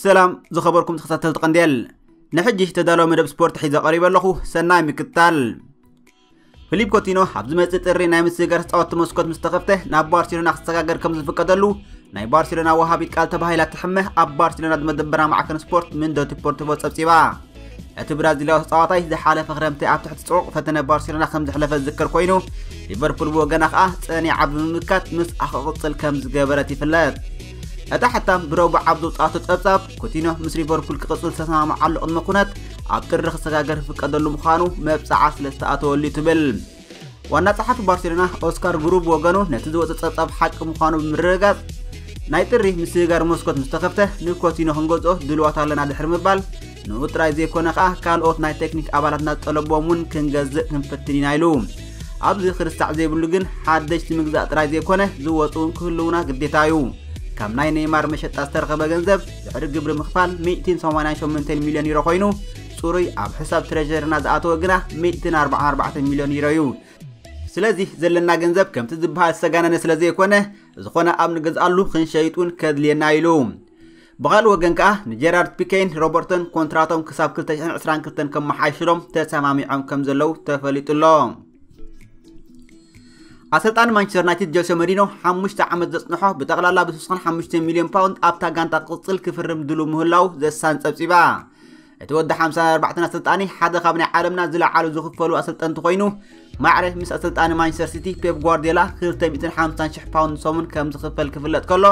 ሰላም ዝኸበርኩም ተኸታተልቲ ቀንዴል ንሕጂ ተዳለወ መደብ ስፖርት ሒዘ ቀሪበ ኣለኹ ሰናይ ምክትታል ፍሊፕ ኮቲኖ ኣብ ዝመጽእ ጥሪ ናይ ምስግጋር ተጻወትቲ መስኮት ምስ ተኸፍተ ናብ ባርሴሎና ክሰጋገር ከም ዝፍቀደሉ ናይ ባርሴሎና ወሃቢት ቃል ተባሂላ ትሕመ ኣብ ባርሴሎና ዝመደበራ ማዕከን ስፖርት ምንዶ ዲፖርቲቮ ጸብጺባ እቲ ብራዚላዊ ተጻዋታይ ዝሓለፈ ክረምቲ ኣብ ትሕቲ ጽዑቕ ፈተነ ባርሴሎና ከም ዝሕለፈ ዝዝከር ኮይኑ ሊቨርፑል ብወገና ከዓ ጸኒዓ ብምምካት ምስ ኣኸቕጽል ከም ዝገበረት ይፍለጥ እታ ሕታም ብረቡዕ ኣብ ዘውፅኣቶ ጸብጻብ ኩቲኖ ምስ ሊቨርፑል ክቕጽል ዝተሰማምዓሉ ቅድመ ኩነት ኣብ ጥሪ ክሰጋገር ዝፍቀደሉ ምዃኑ መብጽዓ ስለ ዝተኣተወሉ እዩ ትብል ዋና ጸሓፊ ባርሴሎና ኦስካር ጉሩ ብወገኑ ነቲ ዝወፀ ጸብጻብ ሓቂ ምዃኑ ብምርግጋጽ ናይ ጥሪ ምስግጋር መስኮት ምስ ተኸፍተ ንኮቲኖ ክንገዝኦ ድልዋት ኣለና ድሕሪ ምባል ንኡ ጥራይ ዘይኮነ ከኣ ካልኦት ናይ ቴክኒክ ኣባላትና ዝጠለቦም እውን ክንገዝእ ክንፍትን ኢና ኢሉ ኣብዚ ክርሳዕ ዘይብሉ ግን ሓደሽቲ ምግዛእ ጥራይ ዘይኮነ ዝወፁ እውን ክህልውና ግዴታ እዩ ካብ ናይ ኔይማር መሸጣ ዝተረኸበ ገንዘብ ድሕሪ ግብሪ ምኽፋል ሚእቲን ሰማንያን ሸሞንተን ሚልዮን ዩሮ ኮይኑ ፅሩይ ኣብ ሕሳብ ትሬዠርና ዝኣተወ ግና ሚእቲን ኣርባዓን ኣርባዕተን ሚልዮን ዩሮ እዩ ስለዚ ዘለና ገንዘብ ከምቲ ዝበሃል ዝተጋነነ ስለ ዘይኮነ ዝኾነ ኣብ ንገዝኣሉ ክንሸይጡን ከድልየና ኢሉ ብኻልእ ወገን ከኣ ንጀራርድ ፒኬን ሮበርቶን ኮንትራቶም ክሳብ 2022 ከመሓይሽሎም ተሰማሚዖም ከም ዘለዉ ተፈሊጡ ኣሎ ኣሰልጣኒ ማንቸስተር ዩናይትድ ጀልሶ መሪኖ ሓሙሽተ ዓመት ዘፅንሖ ብጠቕላላ ብስስኹን ሓሙሽተ ሚልዮን ፓውንድ ኣብታ ጋንታ ክቕፅል ክፍርም ድሉ ምህላው ዘሳን ፀብፂባ እቲ ወዲ 54 ኣሰልጣኒ ሓደ ካብ ናይ ዓለምና ዝለዓሉ ዝኽፈሉ ኣሰልጠንቲ ኮይኑ ማዕረ ምስ ኣሰልጣኒ ማንቸስተር ሲቲ ፔፕ ጓርዲዮላ 250,000 ፓውንድ ሰሙን ከም ዝኽፈል ክፍለጥ ከሎ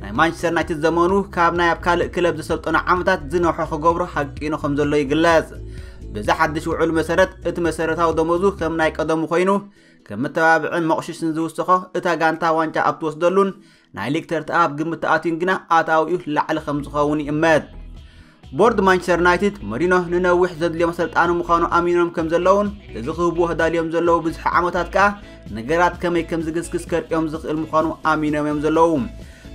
ናይ ማንቸስተር ዩናይትድ ዘመኑ ካብ ናይ ኣብ ካልእ ክለብ ዘሰልጠኑ ዓመታት ዝነውሐ ክገብሮ ሃቂኑ ከም ዘሎ ይግለጽ በዚ ሓድሽ ውዕሉ መሰረት እቲ መሰረታዊ ደሞዙ ከም ናይ ቀደሙ ኮይኑ ከም መተባብዕን መቑሽሽን ዝውስኾ እታ ጋንታ ዋንጫ ኣብ ትወስደሉን ናይ ሊግ ተርትኣ ኣብ ግምት ተኣትዩን ግና ኣታዊኡ ላዕሊ ከም ዝኸውን ይእመት ቦርድ ማንቸስተር ዩናይትድ መሪኖ ንነዊሕ ዘድልዮ መሰልጣኒ ምዃኑ ኣሚኖም ከም ዘለውን እዚ ክህብዎ ተዳልዮም ዘለዉ ብዙሕ ዓመታት ከኣ ነገራት ከመይ ከም ዝግስግስ ከርእዮም ዝኽእል ምዃኑ ኣሚኖም እዮም ዘለዉ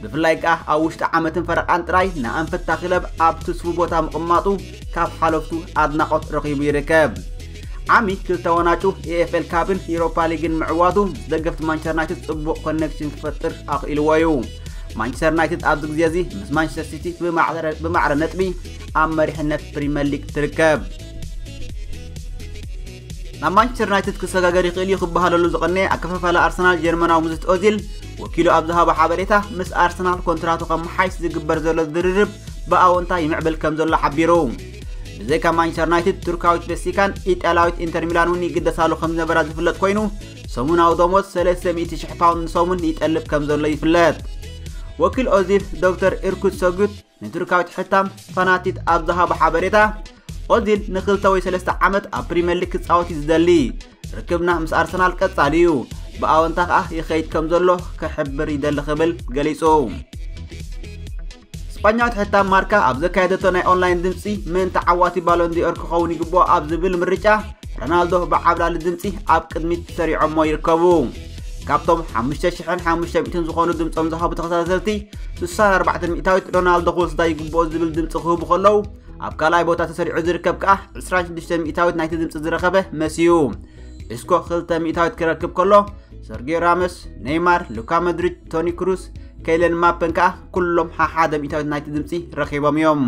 ብፍላይ ከኣ ኣብ ውሽጢ ዓመትን ፈረቓን ጥራይ ንኣንፈታ ክለብ ኣብ ትስፉ ቦታ ምቕማጡ ካብ ሓለፍቱ ኣድናቖት ረኺቡ ይርከብ ዓሚ ክልተ ወናጩ ኤኤፍኤል ካብን ኢሮፓ ሊግን ምዕዋቱ ደገፍቲ ማንቸስተር ዩናይትድ ጽቡቕ ኮኔክሽን ክፈጥር ኣኽኢልዎ እዩ ማንቸስተር ዩናይትድ ኣብዚ ግዜ እዚ ምስ ማንቸስተር ሲቲ ብማዕረ ነጥቢ ኣብ መሪሕነት ፕሪምየር ሊግ ትርከብ ናብ ማንቸስተር ዩናይትድ ክሰጋገር ይኽእል እዩ ክበሃለሉ ዝቐነየ ኣከፋፋሊ ኣርሰናል ጀርመናዊ ምዝት ኦዚል ወኪሉ ኣብ ዝሃቦ ሓበሬታ ምስ ኣርሰናል ኮንትራቱ ከመሓይሽ ዝግበር ዘሎ ዝርርብ ብኣወንታ ይምዕብል ከም ዘሎ ሓቢሩ ብዘይካ ማንቸስተር ዩናይትድ ቱርካዊት ቤሲካን ኢጣልያዊት ኢንተር ሚላን እውን ይግደሳሉ ከም ዝነበራ ዝፍለጥ ኮይኑ ሰሙናዊ ደሞዝ ሰለስተ ሚእቲ ሽሕ ፓውንድ ንሰሙን ይጠልብ ከም ዘሎ ይፍለጥ ወኪል ኦዚል ዶክተር ኢርኩት ሰጉት ንቱርካዊት ሕታም ፋናቲት ኣብ ዝሃቦ ሓበሬታ ኦዚል ንክልተ ወይ ሰለስተ ዓመት ኣብ ፕሪምየር ሊግ ክፃወት እዩ ዝደሊ ርክብና ምስ ኣርሰናል ቀጻሊ እዩ ብኣወንታ ከኣ ይኸይድ ከም ዘሎ ክሕብር ይደሊ ክብል ገሊጹ ስጳኛዊት ሕታም ማርካ ኣብ ዘካየደቶ ናይ ኦንላይን ድምፂ መን ተዓዋቲ ባሎንዲኦር ክኸውን ይግብኦ ኣብ ዝብል ምርጫ ረናልዶ ብዓብላሊ ድምፂ ኣብ ቅድሚት ሰሪዖሞ ይርከቡ ካብቶም 5500 ዝኾኑ ድምፆም ዝሃቡ ተኸታተልቲ 64 ሚእታዊት ሮናልዶ ክወስዳ ይግብኦ ዝብል ድምፂ ክህቡ ከለዉ ኣብ ካልኣይ ቦታ ተሰሪዑ ዝርከብ ከኣ 26 ሚእታዊት ናይቲ ድምፂ ዝረኸበ መስ እዩ እስኮ 2 ሚእታዊት ክረክብ ከሎ ሰርጌዮ ራመስ ኔይማር ሉካ መድሪድ ቶኒ ክሩስ፣ ከይለን ማፐን ከኣ ኩሎም ሓሓደ ሚእታዊት ናይቲ ድምፂ ረኺቦም እዮም።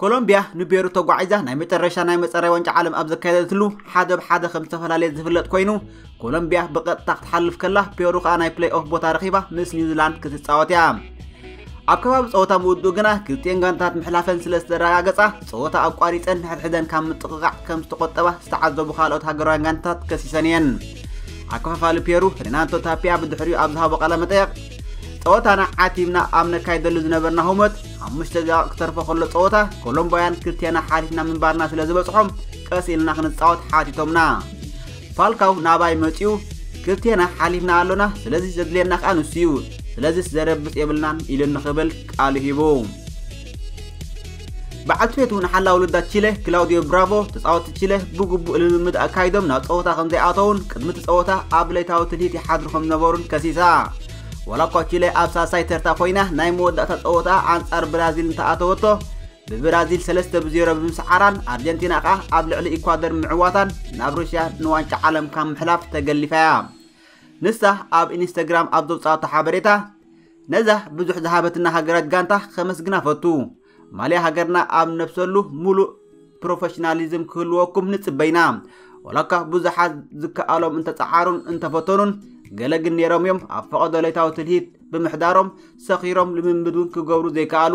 ኮሎምቢያ ንቤሩ ተጓዒዛ ናይ መጨረሻ ናይ መፀረይ ዋንጫ ዓለም ኣብ ዘካየደትሉ ሓደ ብሓደ ከም ዝተፈላለየ ዝፍለጥ ኮይኑ ኮሎምቢያ ብቐጥታ ክትሓልፍ ከላ ፔሩ ከዓ ናይ ፕሌይ ኦፍ ቦታ ረኺባ ምስ ኒውዚላንድ ክትፃወት እያ ኣብ ከባቢ ፀወታ ምውድኡ ግና ክልቲኤን ጋንታት ምሕላፈን ስለ ዝተረጋገፃ ፀወታ ኣቋሪፀን ንሕድሕደን ካብ ምጥቕቓዕ ከም ዝተቖጠባ ዝተዓዘቡ ካልኦት ሃገራውያን ጋንታት ከሲሰን እየን ኣከፋፋሊ ፔሩ ሬናቶ ታፒያ ብድሕሪኡ ኣብ ዝሃቦ ቃለ መጠየቕ ፀወታና ዓቲብና ኣብ ነካይደሉ ዝነበርና ህሞት ሓሙሽተ ደቂቕ ክተርፎ ከሎ ፀወታ ኮሎምቦያን ክልቴና ሓሊፍና ምንባርና ስለ ዝበፅሖም ቀስ ኢልና ክንፃወት ሓቲቶምና ፋልካው ናባይ መጺኡ ክልቴና ሓሊፍና ኣሎና ስለዚ ዘድልየና ከኣ ንሱ እዩ ስለዚስ ዘረብጽ የብልናን ኢሉ ንኽብል ቃሉ ሂቡ በዓል ትቤቱ ንሓላ ውልዳት ቺለ ክላውዲዮ ብራቮ ተፃወቲ ቺለ ብግቡእ ልምምድ ኣካይዶም ናብ ፀወታ ከም ዘይኣተውን ቅድሚ እቲ ፀወታ ኣብ ለይታዊ ትልሂት ይሓድሩ ከም ዝነበሩን ከሲሳ ዋላ እኳ ቺለ ኣብ ሳልሳይ ተርታ ኮይና ናይ መወዳእታ ፀወታ ኣንጻር ብራዚል እንተኣተወቶ ብብራዚል ሰለስተ ብ ዜሮ ብምስዓራን ኣርጀንቲና ከኣ ኣብ ልዕሊ ኢኳዶር ምዕዋታን ናብ ሩስያ ንዋንጫ ዓለም ካብ ምሕላፍ ተገሊፋ እያ። ንሳ ኣብ ኢንስተግራም ኣብ ዘውጽኣቶ ሓበሬታ ነዛ ብዙሕ ዝሃበትና ሃገራዊት ጋንታ ከመስግና ፈቱ። ማልያ ሃገርና ኣብ ነብሰሉ ሙሉእ ፕሮፌሽናሊዝም ክህልወኩም ንጽበይና ወላኳ ብዙሓት ዝከኣሎም እንተጸዓሩን እንተፈተኑን ገለ ግን ነይሮም እዮም ኣብ ፈቐዶ ለይታዊ ትልሂት ብምሕዳሮም ሰኺሮም ልምምድ እውን ክገብሩ ዘይከኣሉ